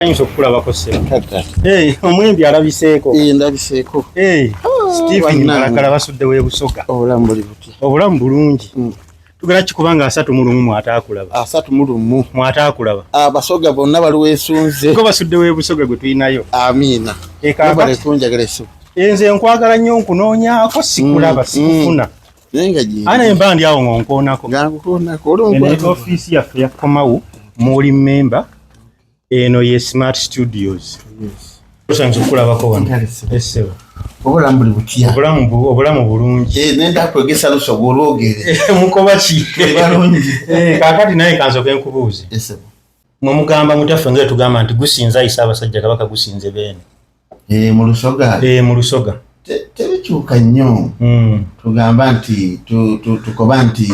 Thanks okukulabako se. Hey, omwembi alabiseeko. Eh, ndabiseeko. Hey, oh, Stephen Malakala basudde we busoga. Obulamu buli butya? Obulamu bulungi. Mm. Tugera kikubanga asatu mu lumu mwataakulaba. Asatu mu lumu mwataakulaba. Abasoga ah, bonna bali wesunze. Ko basudde we busoga gwe tulinayo. Amina. Eka bale kunjagala esu. Enze nkwagala nnyo nkunoonyaako sikulaba mm, sikufuna. Mm. Naye nga gye. Ana emba ndi awo ngonkoonako. Ngankukoonako. Oli ofiisi yaffe yakomawo. Muli member. eno ye smart studios osanze okulabako wanesebo obulamu buli butya obulamu bulungi eh, nenda kwegesa lusoga olwogere eh, mukoba ki eh, kakati naye kansoke nkubuuze mwe mugamba mutaffe nga tugamba nti gusinza ayisa abasajja kabaka gusinze beene mu lusoga mu lusoga tebikyuka nnyo hmm. tugamba nti tukoba nti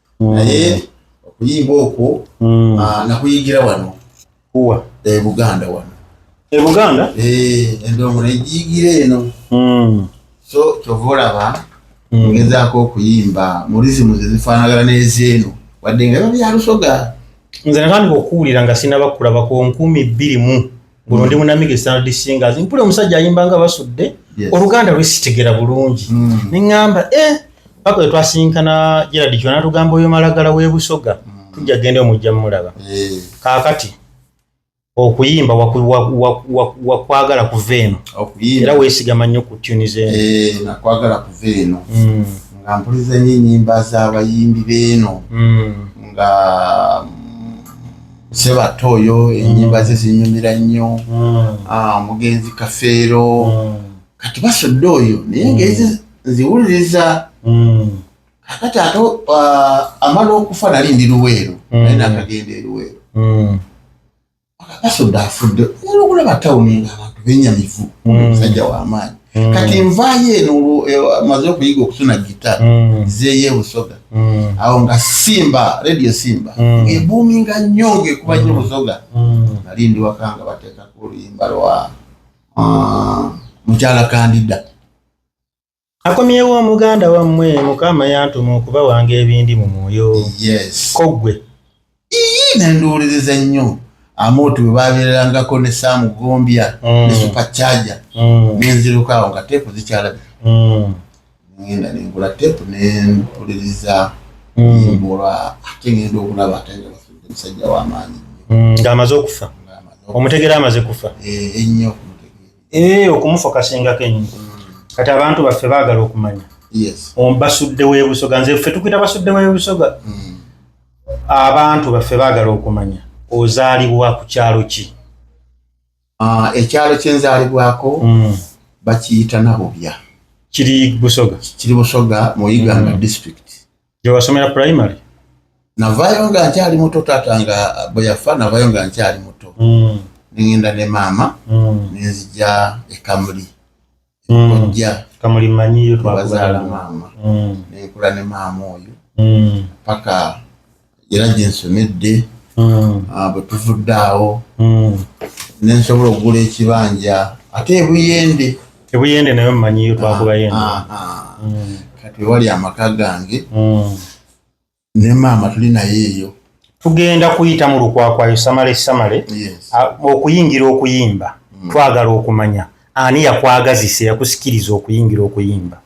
mm. naye okuyimba okwo mm. ah, nakuyigira wano kuwa ebuganda eh, wano ebuganda eh, endongo negiyigira eno mm. so kyova olaba ngezaako okuyimba murizimu zezifaanagana n'ezeeno wadde nga biba byalusoga nze natandika okuwulira nga sinaba kulaba ku nkumi bbiri mu guno ndi munamiga estanard singers mpule omusajja ayimba nga basudde oluganda lwesitegera bulungi mm. neŋamba e eh, paka wetwasinkana gerard kyo natugamba oyo malagala webusoga mm. tujja genda omujja mumulaba eh. kakati okuyimba wakwagala kuva eno era wesigama nnyo ku tuni zenakwagala eh, kuva eno mm. nga mpuliza nyo enyimba zabayimbi beeno nga sebatta oyo enyimba ze zinyumira nnyo ah, omugenzi kafeero kati basodde oyo naye ngezi nziwuliriza kakati ate ah, amala okufa nali ndi luweero naye nakagenda eruweero basodde afudde era okulaba tawuni ngaabantu benyamivu musajja wamaanyi mm. kati nvaayo eno eh, maze okuyiga okutuna gita mm. zeeyo ebusoga mm. awo nga simba radio simba mm. ebuuminga nnyo ngaekuba nyo mm. busoga mm. nali ndi wakanga bateekako oluyimba lwa ah, mukyala kandida akomyewo omuganda wammwe mukama yantuma okuba wange ebindi mu mwoyo yes. kogwe ii nenduwuliriza ennyo amooti we babeererangako ne saamu gombya mm. ne supacharger mm. nenziruka awo nga teepu zikyalabi mm. ngenda nengula teepu nempuliriza mbolwa ate ngenda okulaba ate nga bafudde musajja w'amaanyi ng'amaze okufa omutegera amaze kufa eh, ennyo ee eh, okumufa kasingako ennyo kati abantu baffe baagala okumanya basudde w'ebusoga nze ffe tukuyita basudde w'ebusoga abantu baffe baagala okumanya ozaalibwa ku kyalo ki ah, ekyalo kyenzaalibwako hmm. bakiyita nabubya kiri busoga kiri busoga mu iganga hmm. district gyewasomera primary navayo nga nkyali muto taata nga bwe yafa navayo nga nkyali muto hmm. nengenda ne maama nenzija ekamuli mm. kojja kamuli manyiyo twazala maama mm. nenkula ne maama oyo mm. paka era gyensomedde mm. ah, bwe tuvudde awo mm. nensobola okugula ekibanja ate ebuyende ebuyende nayo manyiyo twakubayende ah, ah, ah. mm. kati wali amaka gange mm. ne maama tuli naye eyo tugenda kuyita mu lukwakwayo samale samale okuyingira okuyimba mm. twagala okumanya ani yakwagazisa yakusikiriza okuyingira okuyimba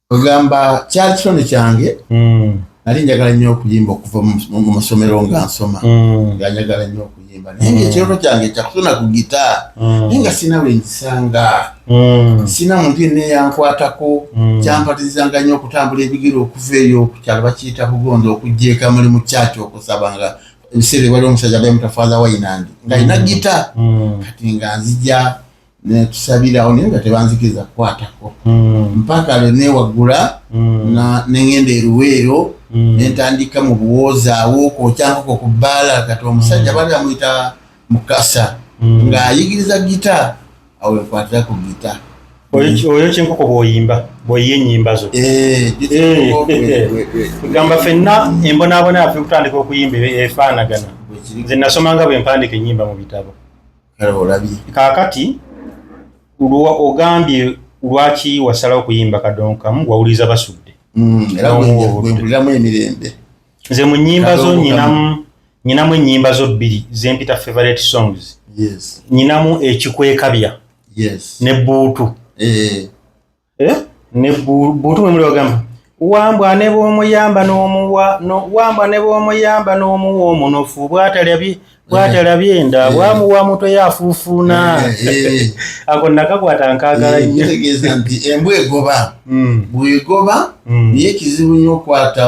ogamba kyali kitono kyange mm. nali njagala nnyo okuyimba okuva mu masomero nga nsoma mm. nga njagala nnyo okuyimba naye nga ekirooto kyange kyakutona ku gita naye nga sirina we ngisanga sirina muntu yenna eyankwatako kyampatirizanga nnyo okutambula ebigere okuva eyo ku kyalo bakiyita kugonda okujja eka muli mu kyaki okusaba nga ebiseera ebali omusajja bayamutafaza wainandi nga alina gita kati nga nzija nekisabirawo naye nga tebanzikiriza kukwatako hmm. mpaka lwe newaggula hmm. nengenda eruweero hmm. nentandika mu buwoozaawo kwokyankoko ku bbaala kati omusajja bali bamuyita mukasa ng'ayigiriza gita awo wekwatira ku gita oyo kyenkoko bwoyimba bwoyiye enyimba zo eh, eh, gamba fenna embonaabona yafe okutandika okuyimba efaanagana nze nasomanga bwempandika enyimba mu bitabo kaakati ogambye lwaki wasalawo okuyimba kadonkamu wawuliriza basudde mm, emirembe nze mu nyimba zo nyinamu nyinamu enyimba zo bbiri zempita favorite songs nyinamu ekikwekabya ne buutu eh. eh? ne buntu mwe muli bagamba wambwa ne bw'omuyamba n'omuwa wambwa ne bw'omuyamba n'omuwa omunofu bwatalabye bwatalabye enda eh. bwamuwa mutwe yafuufuuna eh, eh. ako nakakwata nkaagala nyotegeeza nti embwa egoba hmm. bwegoba hmm. naye kizibu nnyo okwata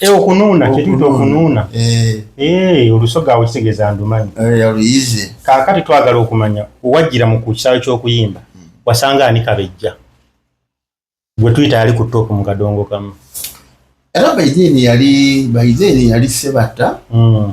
Eh, okunuuna kyetuyita okunuuna eh. Eh, olusoga awo kitegeeza ndumanyi kaakati twagala okumanya wajjira mu ku kisaawe ky'okuyimba hmm. wasanga ani kabejja gwe tuyita yali ku toopu mu kadongo kamu era baideni yali baideni yali sebatta hmm.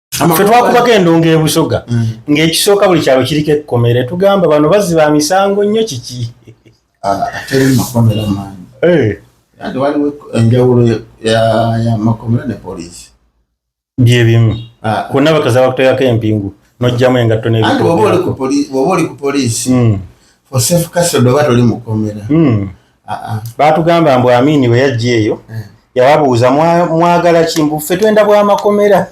fe twakubako endongo ebusoga mm. ng'ekisooka buli kyalo kiriko ekkomere tugamba bano bazzi ba misango nnyo kiki ah, teri makomera maanyi eh. ati waliwo enjawulo ya makomera ne poliisi byebimu ah. ku naba kaza bakutoyako empingu nojjamu engatto nebwoba oli ku poliisi mm. for safe custody oba toli mukomera mm. baatugamba mbu amiini bwe yajja eyo eh. yababuuza mwagala ki mbu ffe twenda bwamakomera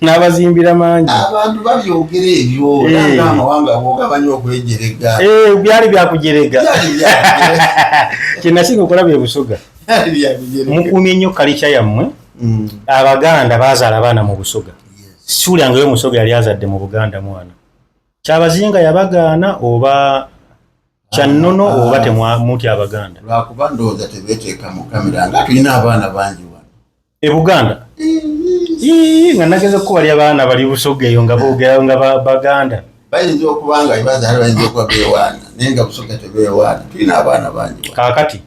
n'abazimbira mangi abantu babyogera ebyo eh. amawanga bogabanya okwejerega eh, byali byakujerega kyenasinga okulaba ebusoga mukuumye nnyo kalikya yammwe mm. abaganda bazaala abaana mu busoga siwulyangayo omusoga yali azadde mu buganda mwana kyabazinga yabagaana oba kyannono ah, oba temwamutya abaganda lwakuba ndowooza tebeteeka mu kamera nga tulina abaana bangi wano e buganda nga nageza okukubalya baana bali busoga eyo nga boogerayo nga baganda bayinza okuba nga ibazaali bayinza okuba bewaana naye nga busoga tebewaana tulina abaana bangi kakati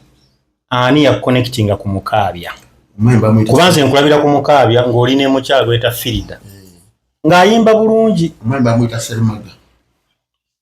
ani yakukonectinga ku mukaabya kuba nze nkulabira ku mukaabya ng'oli ne mukyalo eta firida eh. ng'ayimba bulungi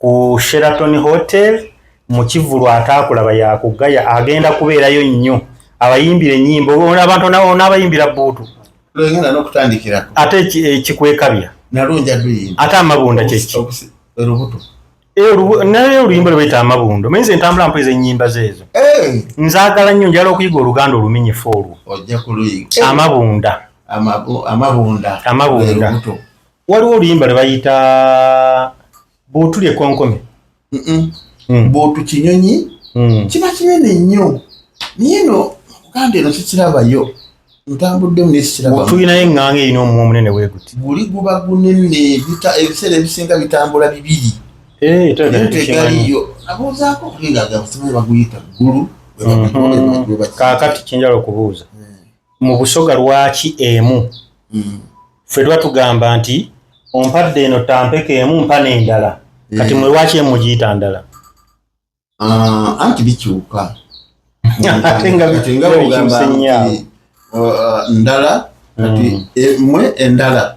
ku Sheraton Hotel mu kivulu ataakulaba yakugaya agenda kubeerayo nnyo abayimbira ennyimba ona abantu n'abayimbira bbuutu ate ekikwekabya eh, ate amabunda kyeki eh, naye oluyimba lwe bayita amabundo maye nze ntambula mpoeza ennyimba zeezo eh. nzaagala nnyo njala okuyiga oluganda oluminyifu olwo amabunda amabunda waliwo oluyimba lwe bayita bwotuli ekonkome hmm. bwotu kinyonyi hmm. kiba kinene nnyo naye no muganda eno kikirabayo ntambuddemu nekikirabotulinayo eŋŋanga erina omumwa omunene weguti guli guba gunene ebiseera ebisinga bitambula bibiri eh, tegaliyo abuuzaako kulinga gabasimu baguyita ggulu mhm. kakati kinjala okubuuza mu busoga lwaki emu mm. ffe tuba tugamba nti ompadde eno tampeka emu mpa n'endala mm. kati mwe lwaki emu giyita ndala ah, anti bikyuka ate nga bikyuka ndala kati mm. emwe endala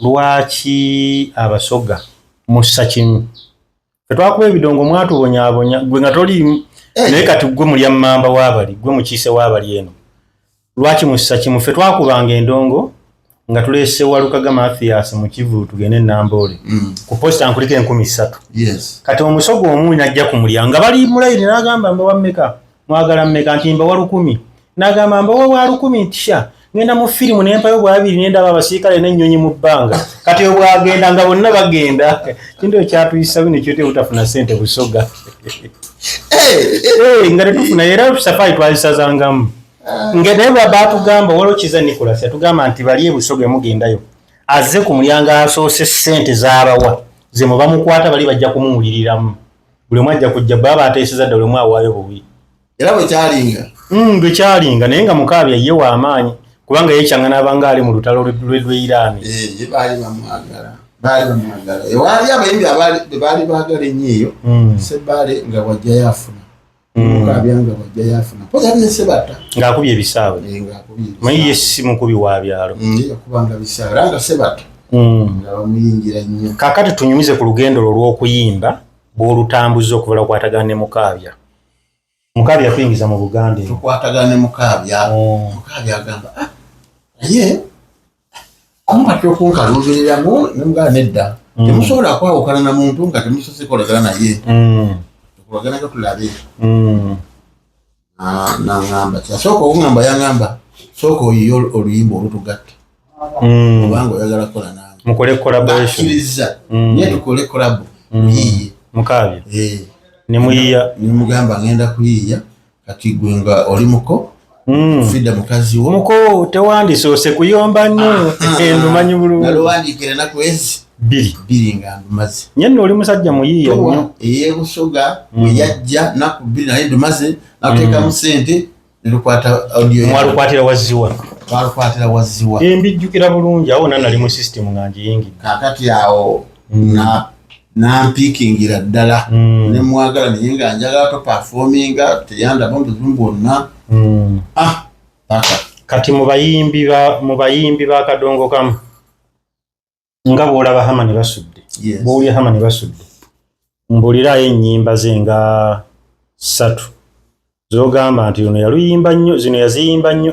Lwaki abasoga mussa kimu? Fetwakuba ebidongo mwatubonyabonya gwe nga toliimu eh. naye kati gwe mulya mamba wabali gwe mukiise wabali eno lwaki mussa kimu fe twakubanga endongo nga tulese walukaga mathias mukivu tugende enamboole mm. ku posita nkuliko enkumi ssatu kati omusogo omu najja ku mulya nga bali mulayini nagamba mbawammeka mwagala mmeka nti mbawa lukumi nagamba mbawa wa lukumi ntisha ngenda mu firimu nempayo bwabiri nendaba abasirikale nenyonyi mu bbanga kati obwagenda nga bonna bagenda kintu ekyatuyisa bino kyote butafuna sente busoga eh, eh, nga tetufuna era safari twazisazangamu ah. nga naye babatugamba waliwo kiza nicolas yatugamba nti bali ebusoga emugendayo azze ku mulyango asoose sente zabawa zemubamukwata bali bajja kumuwuliriramu buli omu ajja kujja bwe aba ateeseza dda buli omu awaayo buwi era bwe kyalinga hmm, bwe kyalinga naye nga mukaabya ye wa amaanyi kubanga yekyanga n'abanga ali mu lutalo lwedweiraani eh, baali bamwagala baali bamwagala ewaali abayimbi baali baagala ennyo eyo hmm. sebaale nga wajjayo afuna ng'akubye ebisaawe maye ye si mukubi wa byalo kakati tunyumize ku lugendo lwo lw'okuyimba bw'olutambuza okuvala okwatagana ne mukaabya mukaabya kuyingiza mu buganda tukwatagana ne mukaabya mukaabya agamba ah, naye omumatira okunkaluubiriramu nemugala nedda mm. temusobola kwawukana na muntu nga temusose kolagana naye mm. tukolaganaga tulabe mm. nangamba kyasooka okungamba yangamba sooka oyiye oluyimba olutugatta obanga oyagala kukola nange mukole kolabakiriza naye tukole kolabo muyiye mukaabya eh. nemuyiya nemugamba ngenda kuyiya kati gwe nga oli muko hmm. fida mukazi wo muko tewandisoose kuyomba nnyo ah, ah, ah. ndumanyi bulungialowandiikira enaku ezi bbiri bbiri nga ndumaze nye nno oli musajja muyiiya nnyo eyebusoga hmm. bwe yajja naku bbiri naye ndumaze nakuteekamu hmm. sente nelukwata audiomwalukwatira wazziwa twalukwatira wazziwa embijjukira bulungi awo nanali mu system nga njiyingidde kakati awo na nampikingira ddala mm. nemwagala naye nga njagala topafominga teyandaba obuzibu bwonna mm. ah, kati mubayimbi bakadongo kamu nga bwolaba hama ne basudde bwowulya hama ne basudde mbulirayo ennyimba ze nga ssatu zogamba nti ono yaluyimba nnyo zino yaziyimba nnyo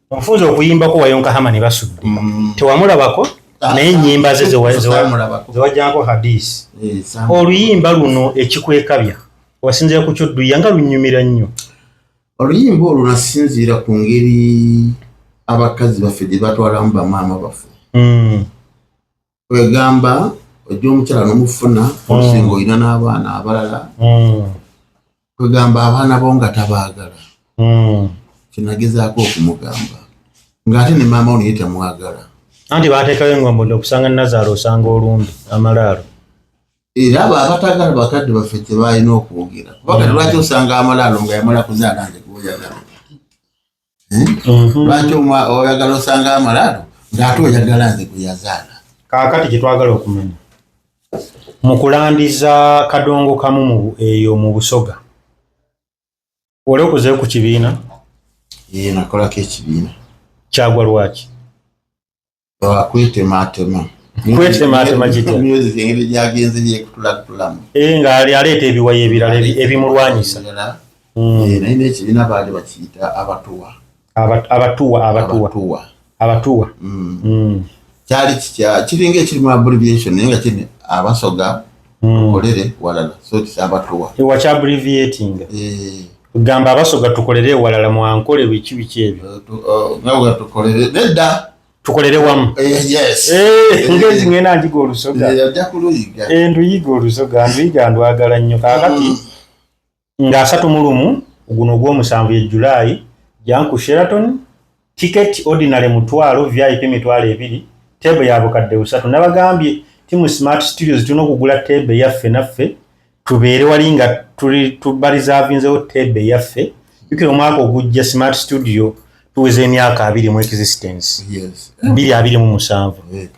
Ofunze okuyimbako wayonka hama ne basudde. Mm. Tewamulabako ah, naye ennyimba ze zewajjanko hadisi. Eh, Oluyimba luno ekikwekabya wasinzira ku kyodduya nga lunyumira nnyo. Oluyimba olwo nasinziira ku ngeri abakazi baffe gye batwalamu bamaama baffe. Mm. kwegamba ojja omukyala nomufuna olusinga mm. olina n'abaana abalala mm. kwegamba abaana bo nga tabaagala mm. kinagezaako okumugamba ng'ate ne maama onaye temwagala anti bateekayo engombodo okusanga nazaala osanga olumbi amalaalo era abo abatagala bakadde baffe tebalina okwogera kubanga lwaki osanga amalaalo nga yamala kuzaala nze kuboyagala lwaki oyagala osanga amalaalo ngaate oyagala nze gweyazaala kakati kyetwagala okumanya mukulandiza kadongo kamu eyo mu busoga oli okuze ku kibiina nakolako ekibiina kyagwa lwaki kwetemaatema kwetemaatema kitya music engeri gyagenze gyekutulattulamu eh, nga aleeta ebiwayi ebirala ebimulwanyisa hmm. eh, naye nekibiina baali bakiyita abatuwa abatuwa abatuwa abatuwa hmm. Hmm. kyali kitya kiringa ekirimu abbreviation naye nga kiri abasoga tukolere hmm. walala so it's abatowa ewa kya abbreviating eh gamba abasoga tukolere walala mwankole biki biki ebyo nga uh, uh, tukolere nedda tukolere wamu eh, yes eh, eh. ngezi ngena njiga olusoga eh nduyiga olusoga nduyiga ndwagala nnyo kakati mm. nga asatu mu lumu guno ogw'omusanvu ye July jang ku Sheraton ticket ordinary mutwalo vip mitwalo ebiri teebe ya bukadde busatu nabagambye ti mu smart studios tulina okugula teebe yaffe naffe tubeere wali nga tuli tubarizavinzewo teebe yaffe jukira omwaka ogujja smart studio tuweza emyaka abiri mu existence bbiri abiri mu musanvu eh,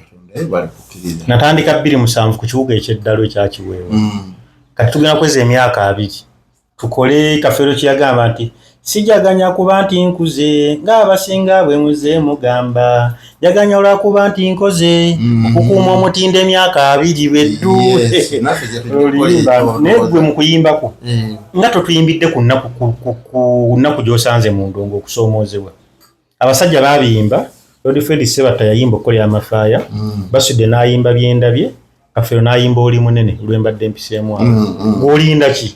natandika bbiri musanvu ku kibuga ekyeddalu ekyakiweewa mm. kati tugenda kweza emyaka abiri tukole kafeero kyeyagamba nti sijaganya kuba nti nkuze ng'abasinga bwe muze mugamba yaganya olwakuba nti nkoze mm. okukuuma omutindo emyaka abiri beddu naye gwe mu kuyimbako mm. nga totuyimbidde ku nnaku gy'osanze mu ndongo okusoomoozebwa abasajja babiyimba lord fred sebata yayimba okukolera amafaaya mm. basudde n'ayimba byendabye kafeero n'ayimba oli munene lwembadde mpiseemu awo gwolinda ki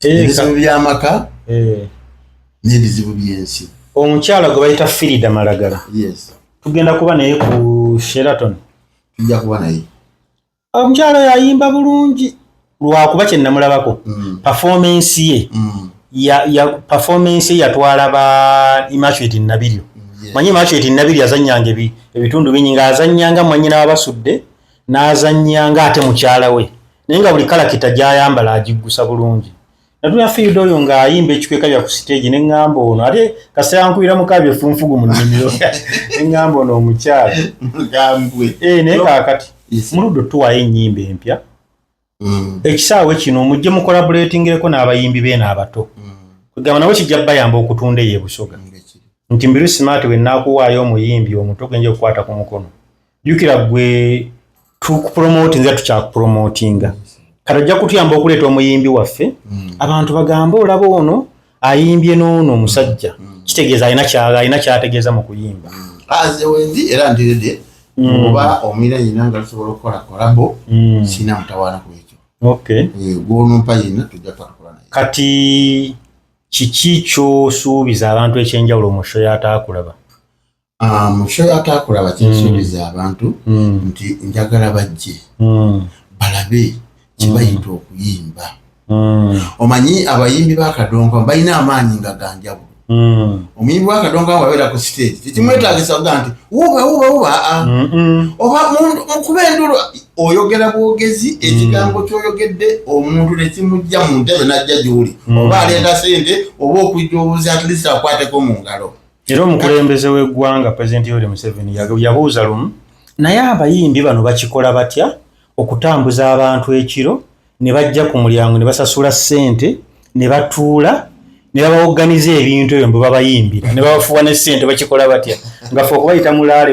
ebizibu by'amaka eh. n'ebizibu by'ensi omukyala gwe bayita firida malagala tugenda kuba naye ku sheraton tujja kuba naye omukyala yayimba bulungi lwakuba kye namulabako mm. pefomance ye mm. pefomance ye yatwala ba immaculate nabiryo manyi immaculate nabiryo azanyanga ebitundu bingi nga azanyanga mwanyina wabasudde n'azannyanga ate mukyala we naye nga buli kalakita gy'ayambala agiggusa bulungi natuna fiida oyo ng'ayimba ekikweka bya ku siteegi ne ŋŋamba ono ate kasita yankuira mukaa byefunfugu mu nnimiro ne ŋŋamba ono omukyala eh, naye kaakati muludde otuwaayo ennyimba empya mm. ekisaawe kino mujje mukolabuletingireko n'abayimbi beeno abato mm. kugamba nabo kijja bayamba okutunda eyo ebusoga mm, nti mbiru simaati wenaakuwaayo omuyimbi omuto genja okukwata ku mukono jukira gwe tukupromotinga tukyakupromotinga kati ojja kutuyamba okuleeta omuyimbi waffe mm. abantu bagambe olaba ono ayimbye noono omusajja mm. kitegeeza alina kyala alina kyategeeza mu kuyimba mm. aze wendi era ndirede mm. oba omira yina nga tusobola okukola kolabo mm. sina mutawaana ku ekyo okay. e, gwonumpa yina tujja twatukola naye kati kiki kyosuubiza abantu ekyenjawulo mu sho yataakulaba Ah, mukyo yatakulaba kyensuubiza mm. abantu mm. nti njagala bajje mm. balabe kyebayita okuyimba omanyi abayimbi bakadongo balina amaanyi nga ganjabu omuyimbi wakadongo wabeera ku siteegi tekimwetagisa kuga nti wuba wuba wuba ah, ah. oba mukuba endulu oyogera bwogezi ekigambo kyoyogedde omuntu nekimujja mu ntebe najja gyuli oba aleeta sente oba okujja obuzi atlist akwateko mu ngalo era omukulembeze w'eggwanga pulezidenti yoweri museveni yabuuza lumu naye abayimbi bano bakikola batya okutambuza abantu ekiro ne bajja ku mulyango ne basasula ssente ne batuula ne babawoganiza ebintu ebyo mbu babayimbira ne babafuwa ne ssente bakikola batya nga fe okubayita mulaale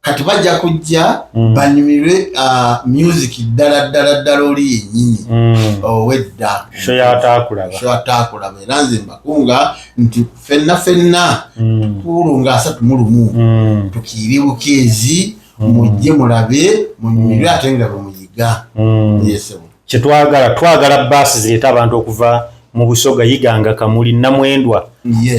kati bajja kujja mm. banyumirwe uh, music ddala ddala ddala oli yennyini mm. owedda shoyataakulaba era nze mbakunga nti fenna fenna mm. tuulu nga asatu mu lumu mm. tukiire bukeezi mm. mujje mulabe munyumirwe mm. ate nga bwemuyiga mm. yesebo kyetwagala twagala baasi zireeta abantu okuva mu busoga yiganga kamuli namwendwa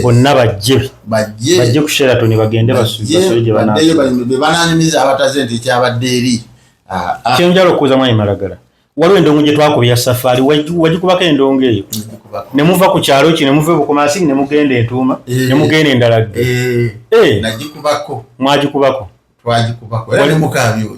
bonna bajje bajje ku sheraton bagende basubebananyumiza abataze nti ekyabadde eri ah, ah. kyenjala okuuza mwayi malagala waliwo endongo gye twakubya safaari wagikubako endongo eyo ne muva ku kyalo ki ne muva ebukomasini ne mugenda entuuma eh. ne mugenda endalagge eh. eh. mwagikubako twagikubako era ne mukaabi oyo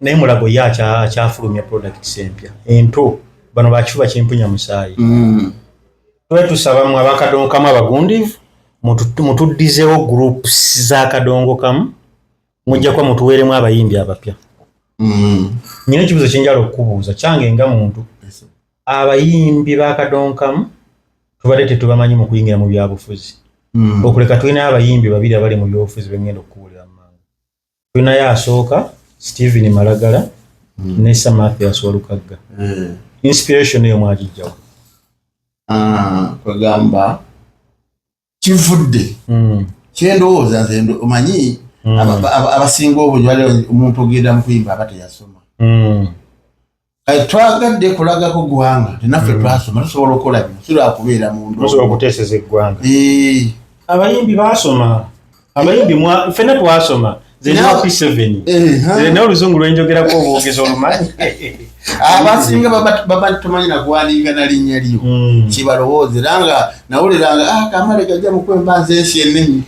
naye mulago ye akyafulumya products empya ento bano bakifuba kimpunya musaayi mm. tuba tusaba mwe abakadongo kamu abagundivu mutuddizewo groups za kadongo kamu mujja kuba mutuweeremu abayimbi abapya mm. nyina ekibuzo kyenjala okukubuuza kyange nga muntu abayimbi ba kadongo kamu tubadde tetubamanyi mu kuyingira mu byabufuzi mm. okuleka tulina abayimbi babiri abali mu byobufuzi bengenda okukubuulira mu mangu tulinayo asooka Steven Malagala mm. ne Sir Mathias Walukagga mm. inspiration eyo mwagijjawo ah, kwegamba kivudde mm. kyendowooza nze omanyi mm. abasinga obungi bali omuntu ogenda mukuyimba aba teyasoma mm. kati twagadde kulagako ggwanga tinaffe mm. twasoma tusobola okukola bino sirakubeera munduokuteeseza eggwanga abayimbi basoma abayimbi fena twasoma naye oluzungu lwenjogerako obwogezi olumanyi abasinga baba tumanyi nagwalinga na linnya lyo hmm. kibalowooza era nga nawuliranga ah, kamale gajja mukwemba nze ensi enenyi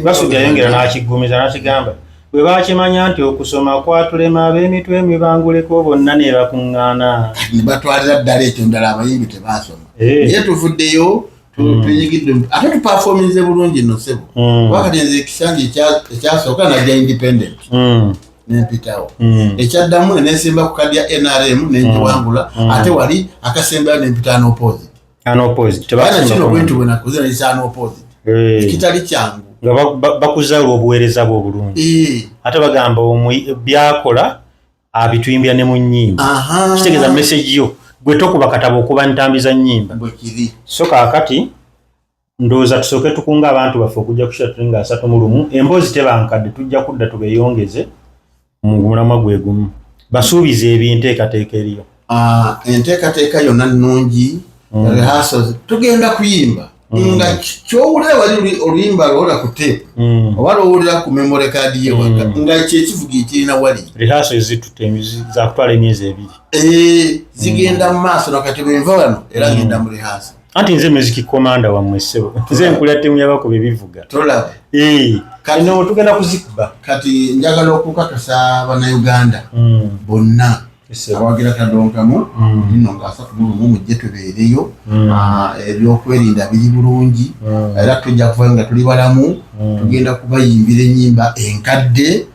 basujayongera nakiggumiza nakigamba Bwe baakimanya nti okusoma kwatulema ab'emitwe emibanguleko bonna ne bakuŋŋaana. Kati ne batwalira ddala ekyo ndala abayimbi tebaasoma. Eh. Naye tuvuddeyo hmm. twenyigidde ate tupafoominze bulungi no ssebo. Hmm. Kuba kati nze ekisanja ekyasooka najja independent. Hmm. nempitawo hmm. ekyaddamu nenesimba ku kadi ya nrm nenjiwangula hmm. hmm. ate wali akasembayo nempita nopozi ekitali kyangu nga bakuza olwobuweereza bwe obulungi eh. ate bagamba byakola abituyimbira ne mu nyimba kitegeeza mesegi yo gwe tokuba katabo okuba ntambi za nyimba so kakati ndowooza tusooke tukunga abantu baffe okujja kusira tuli nga asatu mu lumu emboozi tebankadde tujja kudda tubeeyongeze mu mulamwa gwe gumu basuubiza ebinteekateeka eriyo ah, enteekateeka yonna nnungi mm. rehearsal tugenda kuyimba Mm. nga kyowulira wali oluyimba lwola ku tape mm. oba lwowulira ku memory card ye waka mm. nga kyekivuga ekirina wali rehaso ezitute zakutwala emyezi ebiri eh, zigenda mu maaso nakati bwenva wano era ngenda mu rehaso anti nze music commander wa mwesebo nze nkula timu yabakuba ebivuga tolaba eh kati no tugenda kuzikuba kati njagala okukakasa bana Uganda mm. bonna abawagira kadonka mu mm. nino nga asatu mu lumu mujje tubeereyo mm. ah, ebyokwerinda biri bulungi mm. era tujja kuvayo nga tuli balamu tugenda kubayimbira ennyimba enkadde mm.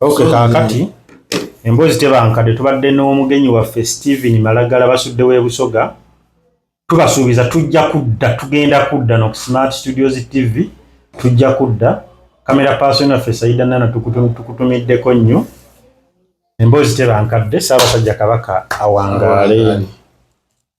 Okay, kakati emboozi tebankadde tubadde n'omugenyi waffe Steven Malagala basudde w'ebusoga tubasuubiza tujja kudda tugenda kudda no Smart Studios TV tujja kudda kamera person waffe Saida Nana tukutumiddeko nnyo emboozi tebankadde Ssaabasajja Kabaka awangaale